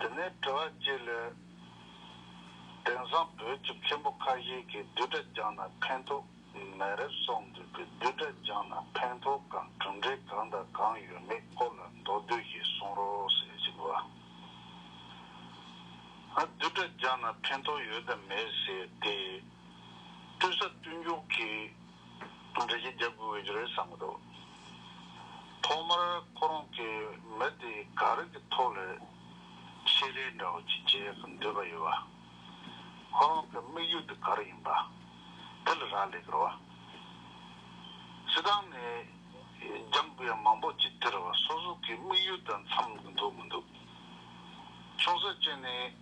དེ་ནས་དྲི་བ་གཅིག་ལས། དེང་སང་བོད་ཀྱི་མཁན་པོ་ཁ་ཤས་ཀྱིས་བསྡུས་གྲྭ་སྦྱངས་ན་ཕན་ཐོགས་མེད་རབས་གསུངས་འདུག་པས་བསྡུས་གྲྭ་སྦྱངས་ན་ཕན་ཐོགས་དང་གྲུབ་འབྲས་གང་དང་གང་ཡོད་མེད་སྐོར་ལ་མདོར་བསྡུས་ཤིག་གསུང་རོགས་ཟེར་གྱི་འདུག་ཨ། བསྡུས་གྲྭ་སྦྱངས་ན་ཕན་ཐོགས་ཡོད་དམ་མེད་ཟེར་ཏེ། བསྟུན་ས་བསྟུན་རྒྱུགས་ཀྱིས་འགྲེལ་བཤད་རྒྱག་དགོས་ཀྱི་རེད་བསམ་གྱི་འདུག་ཐོག་མར་ཁོ་རང་གིས་མི་དེ་ག་རིགས་ཀྱི་ཐོག་ལས་ཤེས་ལས་འདྲ་བོ་ཅིག་བྱེད་ཀྱི་འདོད་པ་ཡོད་པ། ཁོ་རང་གི་དམིགས་ཡུལ་དེ་ག་རེ་ཡིན་པ་དེ་ལ་རག་ལས་ཀྱི་རོགས། སྲིད་ཏང་ནས་རྒྱང་བཀོད་ཡང་མང་པོ་ཅིག་དེར་སོ་སོ་གི་དམིགས་ཡུལ་དང་འཚམ་གྱི་འདུག་མི་འདུག་ཆུང་ས་ཅན་ནས།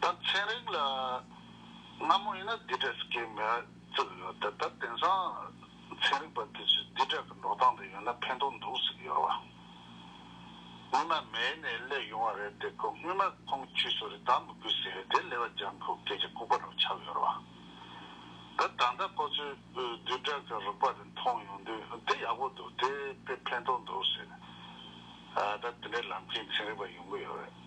ད་ཚན་རིག་ལ་སྔ་མོ་ཡིན་ན་འདི་འདྲའི་སྐད་མི་བཙུགས་ཡོད་དེ་ད་དེང་སང་ཚན་རིག་པ་དེ་ཚོས་འདི་འདྲ་གི་འགྲོ་སྟངས་དེ་ཡོད་ན་ཕན་ཐོག་འདུག་ཟིག་ཡོད་བ། སྔོན་མ་མེད་ནས་སླེབས་ཡོང་བ་རེད་དེ་སྐོར་སྔོན་མ་ཁོང་གི་ཁྱུས་སོ་རེ་ད་མི་དགོས་ཟེར་བས་དེ་ལས་བ་སྦྱང་ཁུ་སྐད་ཀྱི་ལྐུགས་པ་རུ་ཆགས་ཡོད་བ། ད་ད་ལྟ་ཁོ་ཚོས་འདི་འདྲ་གི་རིག་པ་དེ་མཐོང་ཡོང་དུས་དེ་ཡག་པོ་འདུག་དེ་དཔེ་ཕན་ཐོག་འདུག་ཟེར། ད་དེ་འདྲའི་ལམ་མཁན་ཚན་རིག་པ་ཡོང་གི་ཡོད་རེད།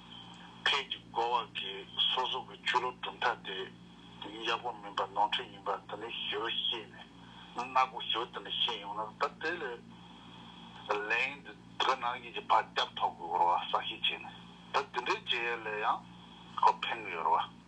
ཕས་ཀྱི་བགོ་བ་གིས་སོ་སོ་གི་ཆོས་ལུགས་གྲུབ་མཐའ་དེ་ཡག་པོ་མིན་པ་ནོར་འཁྲུལ་ཡིན་པ་དེ་ནས་ཞུ་རུ་ཤེས་ནས་ནག་པོ་ཞུ་དེ་ནས་ཤེས་ཡོང་ན་ད་དེ་ལས་ལན་དེ་བོད་ནང་ཡིག་གི་བར་སྐྱབས་ཐོག་གི་བོར་བ་ས་ཤིག་བྱས་ནས་ད་དེ་འདྲའི་བྱེད་ཡས་ལས་ཡང་ཁོ་ཕན་གི་ཡོད་ར་བ།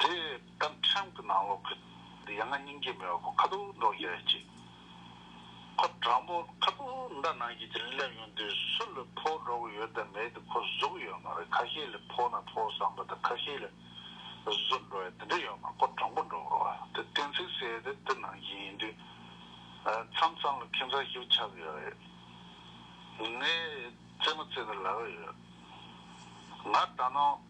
དེ་ལྟར་ཁྲིམས་ཀྱི་ནང་ལོག་གི། དེ་ཡང་ང་སྙིང་རྗེ་མི་བ་པོ་ཁ་དོག་འདྲོགས་ཡོད་ཅིག། ཁོ་དྲང་པོ་ཁ་དོག་མདའ་ནང་བཞིན་གྱི་སླེབས་ཡོང་དུས་སུ་ལ་ཕོག་འགྲོ་གི་ཡོད་དམ་མེད་དེ་ཁོ་བཟོ་གི་ཡོད་མ་རེད་ཁ་ཤས་ལ་ཕོག་ན་ཕོག་བསམ་པ་དང་ཁ་ཤས་ལ་བཟོ་འགྲོ་ཡ་དེ་འདྲ་ཡོད་མ་ཁོ་དྲང་པོ་འགྲོ་གི་རོགས་དེ་གཏན་ཚིགས་གསལ་དེ་དེ་ནང་བཞིན་ཡིན་དུས་མཚམས་མཚམས་ལ་ཁེ་མཚར་ཞིག་ཆགས་གི་ཡོད་རེད། ངས་རྩེད་མོ་རྩེ་ནས་ལ་གི་ཡོད། ང་ད་ནངས།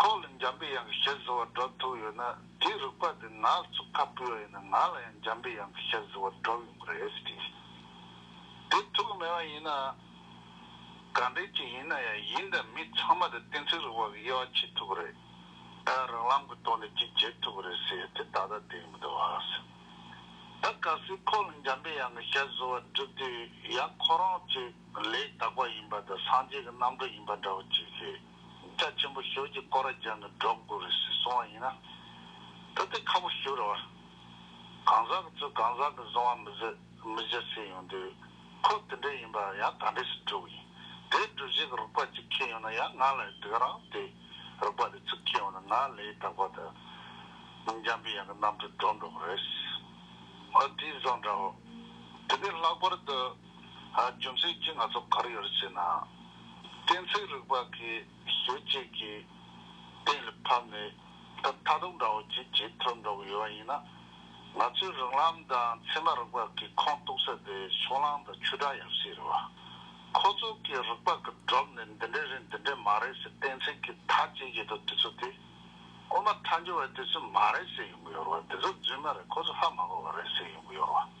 ཁོང་ལ་འཇམ་པའི་དབྱངས་ཀྱི་ཞལ་གཟིགས་བར་སྒྲོག་ཐུག་ཡོད་ན་དེའི་རུས་པ་དེ་ང་ལ་བཙུགས་ཁ་སྤུད་བ་ཡིན་ན་ང་ལ་ཡང་འཇམ་པའི་དབྱངས་ཀྱི་ཞལ་གཟིགས་བར་སྒྲོག་ཡོང་གི་རེད་ཟེར་གྱི། དེ་ཐུག་གི་མེད་པ་ཡིན་ན། ག་འདྲའི་ཅིག་ཡིན་ན་ཡང་ཡིན་དང་མིན་ཚང་མ་དེ་བསྟན་འཛིན་རུས་པ་གི་དབྱེ་བ་ཕྱེ་ཐུབ་གི་རེད། ཨ་རང་ལམ་གྱི་ཐོག་ནས་ཅིག་བྱེད་ཐུབ་གི་རེད་ཟེར་དེ་ད་ལྟ་དེ་མི་འདུག་ཨ་ཟེར། ད་ག་སེ་ཁོང་ལ་འཇམ་པའི་དབྱངས་ཀྱི་ཞལ་གཟིགས་བར་བསྒྲུབས་དུས་ཡང་ཁོ་རང་ཚོས་ལས་དག་པ་ཡིན་པ་དང་སངས་རྒྱས་ཀྱི་རྣམ་གྲོལ་ཡིན་པ་འདྲ་བོ་ཅིག་ཤེས། སྐྲ་ཆེན་པོ་ཞོལ་གྱི་ཀོ་ར་རྒྱང་གི་སྒྲོག་དགུ་རུ་ཞིག་སོང་བ་ཡིན་ན། དེ་དེ་ཁ་པོ་ཞུ་རུ་བ། གང་ཟག་གི་ཚུལ་གང་ཟག་གི་བཟུང་བ་མི་བཟོད་མི་བཞེད་སེ་ཡོང་དུས། ཁོ་དེ་འདྲས་ཡིན་པ་ཡང་ག་འདྲས་ཞིག་བསྒྲུབ་ཡིན། དེའི་སྒྲུབ་གཞི་གི་རིག་པ་གཅིག་ཁེལ་ཡོང་ན་ཡང་ང་ལ་ཡོད་དུས་རང་དེ་རིག་པ་དེ་ཚུལ་ཁེལ་ཡོང་ན་ང་ལས་དག་པ་དེ་མི་འཇམ་པའི་ཡང་གི་རྣམ་འཕྲུལ་འགྲོ་འགྲོ་པོ་རེད། ཨོ་དེའི་བཟང་འདྲ་བོ། དེ་ནས་ལྷག་པར་དུ། རྒྱུ་མཚན་གྱིས་ང་ཚོ་གར་ཡོད་ཅེ་ན། གཏན་ཚིགས་རིག་པ་གི་ཤེས་བྱེད་ཀྱི་གཏན་ལ་ཕབ་ནས་ད་ལྟ་དུང་འདྲ་བོ་བརྗིད་ཆེས་ཐོན་འགྲོ་གི་ཡོད་པ་ཡིན་ན། ང་ཚོའི་རིག་ལམ་དང་ཚད་མ་རིག་པ་གི་ཁོངས་གཏུགས་ས་དེ་ཕྱོགས་གླང་དང་ཆུ་སྒྲ་ཡབ་སྲས་རེད་བ། ཁོ་ཚོ་གི་རིག་པ་གི་སྒྲོམ་ནས་འདི་འདྲས་རེད་འདི་འདྲས་མ་རེད་ཟེར་གཏན་ཚིགས་ཀྱི་མཐའ་བཅད་ཀྱི་འདུག་དེ་ཚོ་དེ། དབུ་མ་མཐའ་འཇུག་བས་དེ་ཚོས་མ་རེད་ཟེར་ཡོང་གི་ཡོད་རེད་བ། དེ་ཚོ་རྫུན་མ་རེད་ཁོ་ཚོ་ཧ་མ་གོ་བ་རེད་ཟེར་ཡོང་གི་ཡོད་རེད་བ།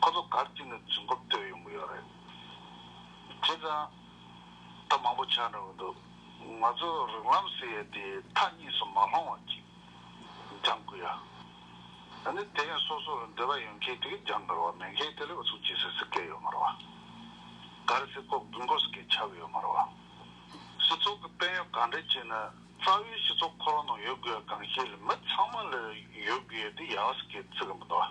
ཁོ་ཚོ་སྒར་གཅིག་ནས་རྫུན་རྐུབ་བསྟོད་ཡོང་གི་ཡོད་རེད། དེ་ཙང་ད་མང་པོ་ཆགས་འགྲོ་གི་འདུག་ང་ཚོ་རིགས་ལམ་ཟེར་ཡས་དེ་མཐའ་གཉིས་སུ་མ་ལྷོང་བ་ཅིག་སྦྱང་དགོས་ཡ། ད་ནི་དེ་ཡང་སོ་སོར་འདོད་པ་ཡོད་མཁན་དེ་གས་སྦྱང་དགར་བ་མེད་མཁན་དེ་ལས་འུ་ཚོ་ཇི་སྲིད་སྲིད་སྐད་ཡོད་མ་རུ་བ། སྒར་སྲིད་ལྐོག་རྫུན་ལྐོག་སྐད་ཆགས་གི་ཡོད་མ་རུ་བ། སི་ཚོགས་ཀྱི་དཔལ་ཡོན་གང་འདྲས་ཅིག་ནི་རྩ་བའི་སི་ཚོགས་འཁོར་བ་ནང་ཡོད་དགོས་ཡ་གང་ཤེས་ལ་མི་ཚང་མ་ལ་ཡོད་དགོས་ཡ་དེ་ཡ་བ་སི་སྐད་རྩི་གི་མི་འདུག་བ།